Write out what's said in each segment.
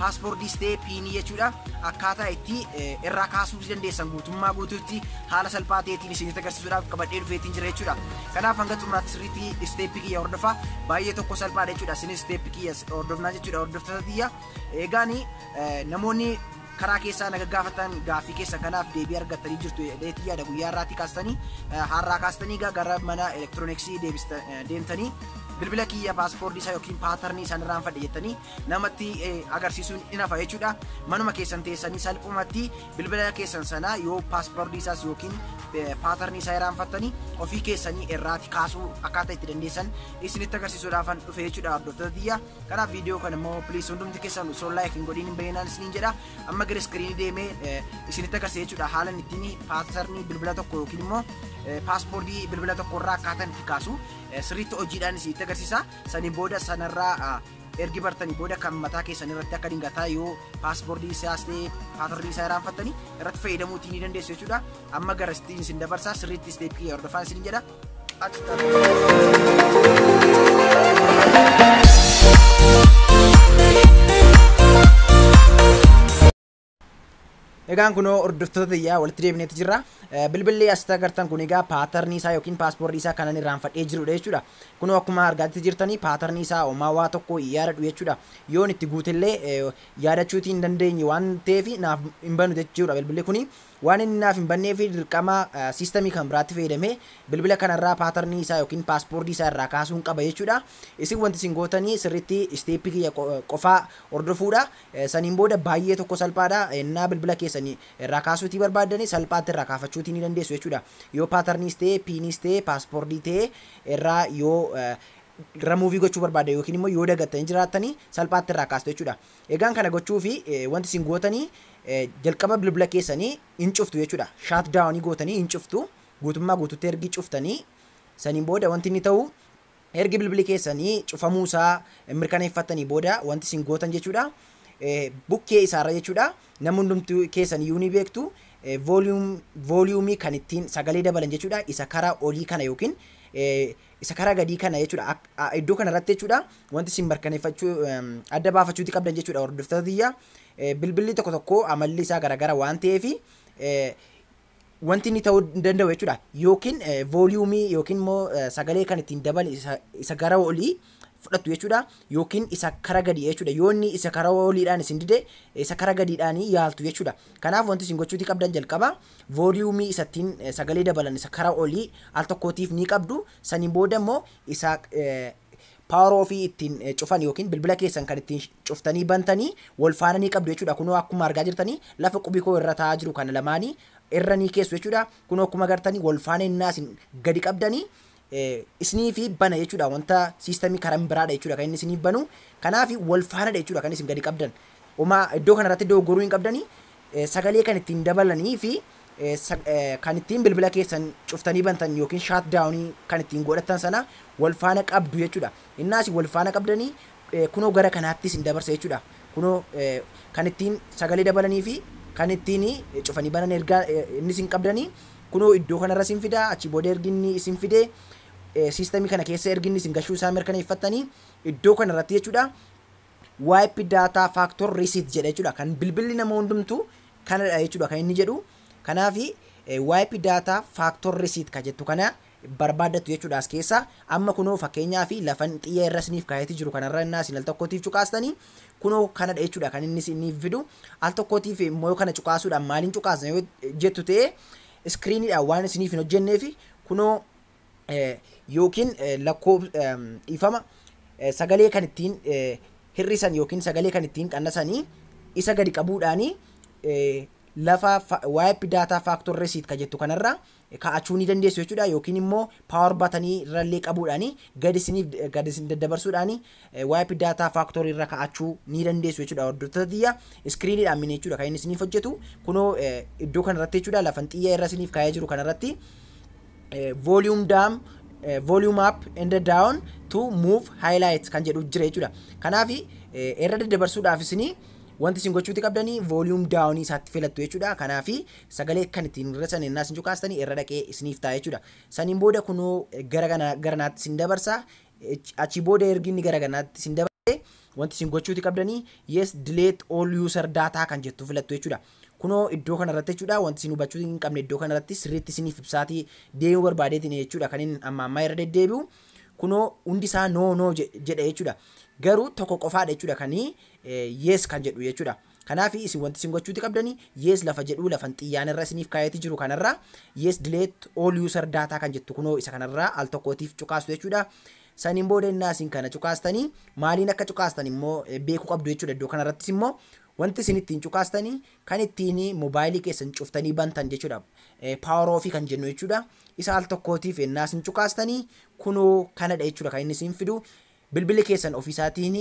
Paaspoordiis ta'ee piinii jechuudha akkaataa itti irraa kaasuu dandeessan guutummaa guutuutti haala salphaa ta'eetiin isinitti agarsiisuudhaaf qabadhee dhufeetiin jira jechuudha. Kanaaf hanga xumuraatti sirriitti isteeppii kiyya hordofaa baay'ee tokko salphaadha jechuudha. Isinis isteeppii kiyya hordofnaa jechuudha hordoftoota tiyya. Egaan namoonni karaa keessaa na gaggaafatan gaaffii keessan kanaaf deebii argattanii jirtu jedheetii yaada guyyaa irraatii kaastanii har'aa kaastanii gara mana elektirooniksii deemtanii bilbila kiyya paaspoortii isaa yookiin paatarnii isaan irraan fadhe jettanii namatti agarsiisuun in hafa jechuudha. Manuma keessan teessanii salphumatti bilbila keessan sana yoo paaspoortii isaas yookiin paatarnii isaa irraanfattanii ofii keessanii irraati kaasuu akkaataa itti dandeessan isinitti agarsiisuudhaafan dhufe jechuudha hordoftoota tiyya. Kanaaf viidiyoo kana immoo piliis hundumti keessan osoo laayik hin godhiin hin bayyinaan isiniin jedha. Amma gara iskiriinii deemee isinitti agarsiisa jechuudha haalan ittiin paatarnii bilbila tokko yookiin immoo paaspoortii bilbila tokko irraa akkaataa itti kaasu sirriitti hojiidhaan isinitti agarsiisa. Saniin booda sanarraa ergi bartanii booda kan mataa keessan irratti akka dingataa yoo paaspoortii isaas ta'e paatarrii isaa irraanfattanii irratti fayyadamuutii ni dandeessu jechuudha. Amma gara istiin isin dabarsaa sirriitti isteeppii hordofaa isin jedha. Qaxxala. Egaan kunoo hordoftoota tiyyaa walitti deebineeti jirra. Bilbilli asitti agartan kun egaa paatarnii isaa yookiin paaspoortii isaa kanan irraanfadhee jirudha jechuudha. Kunoo akkuma argaatti jirtanii paatarnii isaa homaa waa tokko yaadadhu jechuudha. Yoon itti guutellee yaadachuutii hin dandeenye waan ta'eef naaf hin banu jechuudha bilbilli kuni. Waan inni naaf hin banneef dirqama siistamii kan biraatti fayyadamee bilbila kanarraa paatarnii isaa yookiin paaspoortii isaa irraa kaasuun qaba jechuudha. Isin wanti isin gootanii sirriitti isteeppii kiyya qofaa hordofuudha. Saniin booda baay'ee tokko salphaadha. Ennaa bilbila keessan irraa kaasuutii barbaaddani salphaatti irraa kaafachuutii ni dandeessu jechuudha. Yoo paatarniis ta'ee, piiniis ta'ee, paaspoordii ta'ee irraa yoo ramuuvii gochuu barbaaddan yookiin immoo yoo dagattanii jiraattanii salphaatti irraa kaastu jechuudha. Egaan kana gochuufi wanti isin gootanii jalqaba bilbila keessanii hin cuftu jechuudha. Shaat daawanii gootanii hin cuftu. Guutummaa guututti ergi cuftanii saniin booda wanti inni ta'u Ergi bilbili keessanii cufamuu isaa mirkaneeffattanii booda wanti isin gootan jechuudha bukkee isaarra jechuudha namni hundumtuu keessan iyyuu ni beektu vooliyuumii kan ittiin sagalee dabalan jechuudha isa karaa olii kana yookiin isa karaa gadii kana jechuudha iddoo kana irratti jechuudha wanti isin mirkaneeffachuu adda baafachuuti qabdan jechuudha hordoftoota tiyya bilbilli tokko tokko amalli isaa garagara waan ta'eefi wanti inni ta'uu hin danda'u jechuudha. Yookiin vooliyuumii yookiin immoo sagalee kan ittiin dabale isa gara olii fudhattu jechuudha. Yookiin isa kara gadii jechuudha. Yoo inni isa kara oliidhaan isin dide isa kara gadiidhaan yaaltu jechuudha. Kanaaf wanti isin gochuuti qabdan jalqaba vooliyuumii isa ittiin sagalee dabalan isa kara olii al tokkootiif ni qabdu. Saniin booda immoo isa power ofii ittiin eh, cufan yookiin bilbila keessan kan ittiin cuftanii bantanii wal faana ni qabdu jechuudha kunoo akkuma argaa jirtanii lafa qubikoo irra taa'aa jiru kana lamaanii irra ni keessu jechuudha kunoo akkuma agartanii wal faana innaa isin gadi qabdanii eh, isinii fi bana jechuudha wanta siistamii karan biraadha jechuudha kan inni isinii banu kanaafi wal faanadha jechuudha kan isin gadi qabdan Uma iddoo kanarratti dogoggoruu hin qabdanii sagalee kan ittiin dabalanii fi kan ittiin bilbila keessan cuftanii bantan yookiin shaat daawunii kan ittiin godhattan sana wal faana qabdu jechuudha. Innaas wal faana qabdanii kunoo gara kanaatti isin dabarsa jechuudha. Kunoo kan ittiin sagalee dabalanii fi kan ittiin cufanii banan ergaa inni isin qabdanii kunoo iddoo kanarra isin fidaa achi booda ergi inni isin fidee siistemii kana keessa ergi inni isin gashuu isaa mirkaneeffattanii iddoo kanarratti jechuudha. Wipe data factor reset jedha jechuudha. Kan bilbilli nama hundumtuu kanadha jechuudha kan inni jedhu. Kanaaf wipe data factor reset ka jettu kana barbaaddattu jechuudha as keessa. Amma kunoo fakkeenyaa fi lafan xiyya irra isiniif kaayatee jiru kanarra innaa isin al tokkootiif cuqaastanii kunoo kanadha jechuudha kan inni isiniif fidu. Al tokkootiif immoo yoo kana cuqaasuudhaan maaliin cuqaasna yoo jettu ta'e iskiriiniidhaan waan isiniif hin hojjenneef kunoo yookiin lakkoofsa dhiifama sagalee kan ittiin hir'isan yookiin sagalee kan ittiin qannasanii isa gadi qabuudhaanii lafa YP data factor receipt ka jettu kanarra kaa'achuu ni dandeessu jechuudha yookiin immoo power batanii irrallee qabuudhaanii gadi isiniif gadi isin daddabarsuudhaanii Wipe data factory irra ka'achuu ni dandeessu jechuudha hordoftoota tiyya. Screen dhaan mini jechuudha kan inni isiniif hojjetu. Kunoo iddoo kana irratti jechuudha lafan xiyya irra isiniif kaa'ee jiru kana irratti volume down volume up and down to move highlight kan jedhu jira jechuudha. Kanaaf irra daddabarsuudhaaf isinii wanti isin gochuuti qabdanii volume down isaatti filattu jechuudha. Kanaaf sagalee kan ittiin hir'isan innaa isin cuqaastanii irra dhaqee isiniif ta'a jechuudha. Saniin booda kunoo gara gara naatti isin dabarsa. Achii booda ergi inni gara kanaatti isin dabarse wanti isin gochuuti qabdanii yes delete all user data kan jettu filattu jechuudha. Kunoo iddoo kanarratti jechuudha wanti isin hubachuu hin qabne iddoo kanarratti sirriitti isiniif ibsaatii deemuu barbaadeetiin jechuudha kan inni amma ammaa irra deddeebi'u. Kunoo hundi isaa no no jedha jechuudha. Garuu tokko qofaadha jechuudha kan yes kan jedhu jechuudha. Kanaafi isin wanti isin gochuuti qabdani yes lafa jedhuu lafan xiyyaan irra isiniif kaayati jiru kanarra yes delete all user data kan jettu kunoo isa kanarra al tokkootiif cuqaastu jechuudha. Saniin booda innaa isin kana cuqaastani maaliin akka cuqaastan immoo beeku qabdu jechuudha iddoo kanarrattis immoo wanti isin ittiin cuqaastani kan ittiin mobaayilii keessan cuftanii bantan jechuudha power off kan jennu jechuudha. Isa al tokkootiif innaa isin cuqaastani kunoo kanadha jechuudha kan inni isin fidu bilbilli keessan ofiisaatiin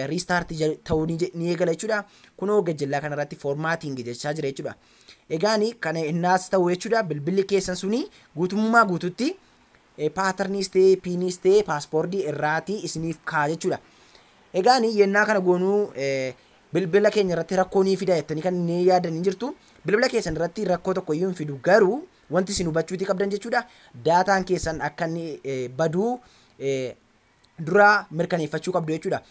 restart ta'uu ni eegala jechuudha. Kunoo gajjallaa kanarratti formatting jechaa jira jechuudha. Egaan kana innaas ta'u jechuudha bilbilli keessan suni guutummaa guututti paatarniis ta'ee piiniis ta'ee paaspoortii irraatii isiniif kaa jechuudha. Egaan yennaa kana goonuu bilbila keenya irratti rakkoo ni fida jettanii kan ni yaadan ni jirtu. Bilbila keessan irratti rakkoo tokko iyyuu hin fidu garuu wanti isin hubachuuti qabdan jechuudha. Daataan keessan akka inni baduu dura mirkaneeffachuu qabdu jechuudha.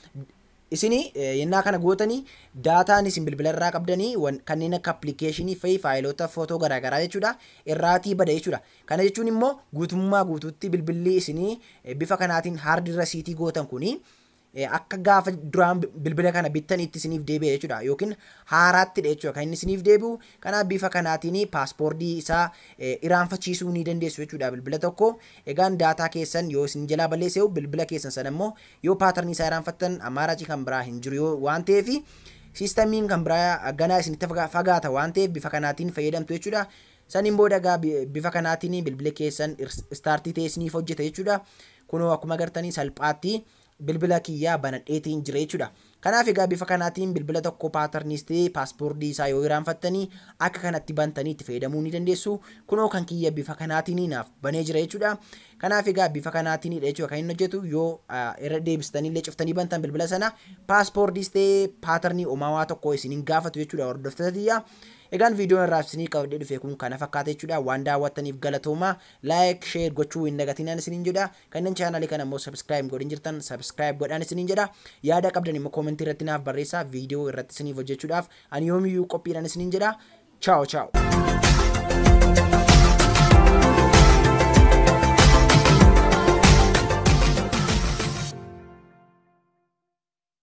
Isin yennaa kana gootanii daataan isin bilbila irraa qabdanii wan- kanneen akka appilikeeshinii fa'i faayiloota footoo garaagaraa jechuudha irraatii bada jechuudha. Kana jechuun immoo guutummaa guutuutti bilbilli isinii eh, bifa kanaatiin haardi rasiitii gootan kuni eh, akka gaafa duraan bi- bilbila kana bittaniitti isiniif deebi'a jechuudha yookiin haaraattidha jechuudha kan inni isiniif deebi'u kanaaf bifa kanaatiin paaspoortii isaa eh, iraanfachiisuu ni dandeessu jechuudha bilbila tokko Egaan daataa keessan yoo isin jalaa balleesseehu bilbila keessan sana immoo yoo pattern isaa iraanfattan ammaaraci kan biraa hin jiru yoo waan ta'eef systemiin kan biraa ganaa isin itti fagaata waan ta'eef bifa kanaatiin fayyadamtu jechuudha. Saniin booda egaa bifa kanaatiin bilbila keessan start ta'ee isiniif hojjeta jechuudha. Kunoo akkuma agartanii salphaatti bilbila kiyya banadheetiin jira jechuudha. Kanaaf egaa bifa kanaatiin bilbila tokko paatarniis ta'ee paaspoordii isaa yoo iraanfattanii akka kanatti bantanii itti fayyadamuu ni dandeessu. Kunoo kan kiyya bifa kanaatiin naaf banee jira jechuudha. Kanaaf egaa bifa kanaatiinidha jechuudha kan inni hojjetu yoo irra deebistanii illee cuftanii bantan bilbila sana paaspoordiis ta'ee paatarnii uumawaa tokko isin hin gaafatu jechuudha hordoftoota tiyya. Egaan viidiyoon irraa isinii qabadhee dhufe kun kana fakkaata jechuudha. Waan daawwattaniif galatooma. Laayik, sheer gochuu hin dagatinaan isiniin jedha. Kanneen channel kana immoo subscribe hin godhin jirtan subscribe godhaan isiniin jedha. Yaada qabdan immoo comment irratti naaf barreessaa video irratti isiniif hojjechuudhaaf ani yoomiyyuu qophiidhaan isiniin jedha. Ciao ciao.